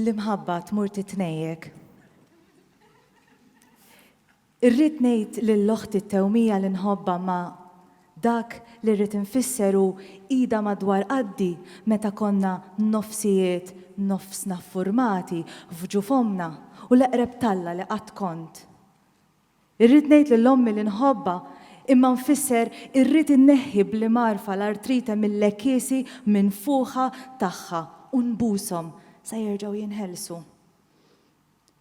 L-imħabba tmur titnejjek. Irrid ngħid lil oħti t-tewmija li nħobbha ma dak li rrid infisser hu idha madwar qaddi meta konna nofsijiet nofsna ffurmati f'ġuf ommna u l-eqreb t'Alla li qatt kont. Irrid ngħid lil ommi li nħobbha, imma nfisser irrid inneħħi b'li mgħarrfa l-artrite mil-lekisi minfuħa tagħha u nbushom sa jerġgħu jinħelsu.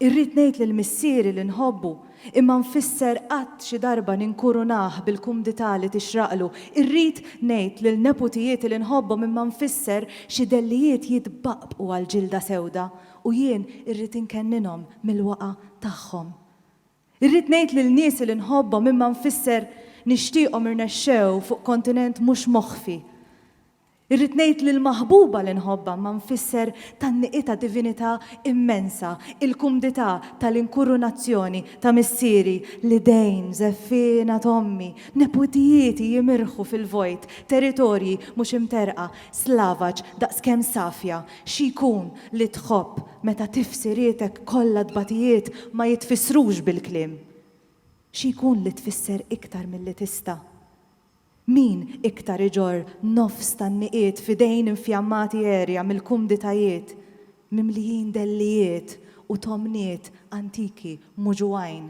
Irrid ngħid lil missieri li nħobbu, imma nfisser qatt xi darba ninkurunah bil-kumdità li tixraqlu. Irrid ngħid lil neputijieti li nħobbhom imma nfisser xi dellijiet jitbaqqbqu għall-ġilda sewda u jien irrid inkenninhom mill-waqa' tagħhom. Irrid ngħid lil niesi li nħobbhom imma nfisser nixtieqhom irnexxew fuq kontinent mhux moħfi. Irrid ngħid lill-maħbuba li nħobbha imma nfisser tgħanniqi ta' divinità immensa, il-kumdità tal-inkurunazzjoni ta' missieri, l-idejn żeffiena t'ommi, neputijieti jimirħu fil-vojt, territorji mhux imterrqa, slavaġ daqs kemm safja Xi jkun li tħobb meta tifsirietek kollha tbatijiet ma jitfissrux bil-kliem? Xi jkun li tfisser iktar milli tista'? Min iktar iġorr nofs tan-niqiet f'idejn infjammati għerja mill-kumditajiet mimlijin dellijiet u tomniet antiki muġugħin?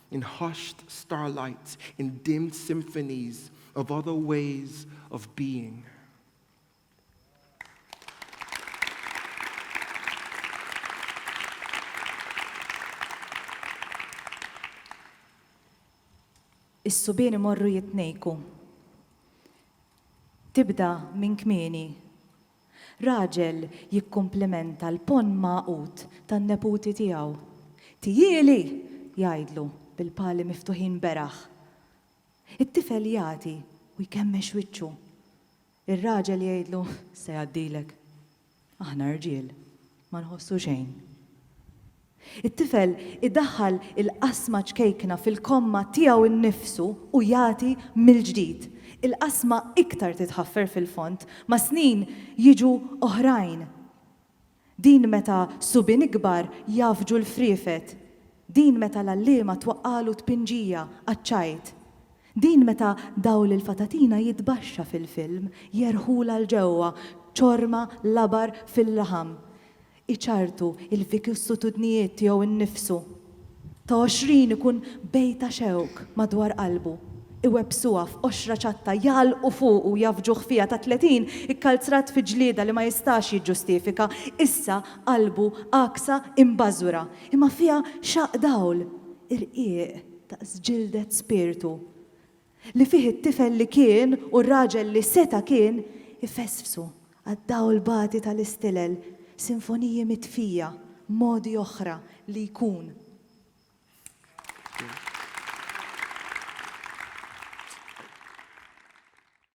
In hushed starlight, in dimmed symphonies of other ways of being. Is-subien imorru jitnejku. Tibda minn kmieni Raġel jikkumplimenta l-ponn magħqud tan-neputi tiegħu. Tiejieli! jgħidlu bil-pali miftuħin beraħ. It-tifel jagħti u jkemmex wiċċu. Ir-raġel jgħidlu, Se jgħaddilek. Aħna rġiel. Ma nħossu xejn. It-tifel idaħħal il-qasma ċkejkna fil-komma tiegħu nnifsu u jagħti mill-ġdid. Il-qasma iktar titħaffer fil-fond. Mas-snin jiġu oħrajn. Din meta subien ikbar jgħaffġu l-friefet. Din meta l-għalliema twaqqagħlu tpinġija għaċ-ċajt. Din meta dawl il-fatatina jitbaxxa fil-film, jerħulha 'l ġewwa, ċorma, labar, fil-laħam. Iċarrtu, il-vikissutudnijiet tiegħu nnifsu. Ta' għoxrin ikun bejta xewk madwar qalbu. Iwebbsuha f'qoxra ċatta, jgħallqu fuqu, jgħaffġuh fiha. Ta' tletin, ikkalzrat fi ġlieda li ma jistax jiġġustifika. Issa qalbu għaksa, imbażwra. Imma fiha xaqq dawl, irqiq. daqs ġildet spirtu, li fih it-tifel li kien u r-raġel li seta' kien ifesfsu għad-dawl bati tal-istilel, sinfoniji mitfija, modi oħra li jkun.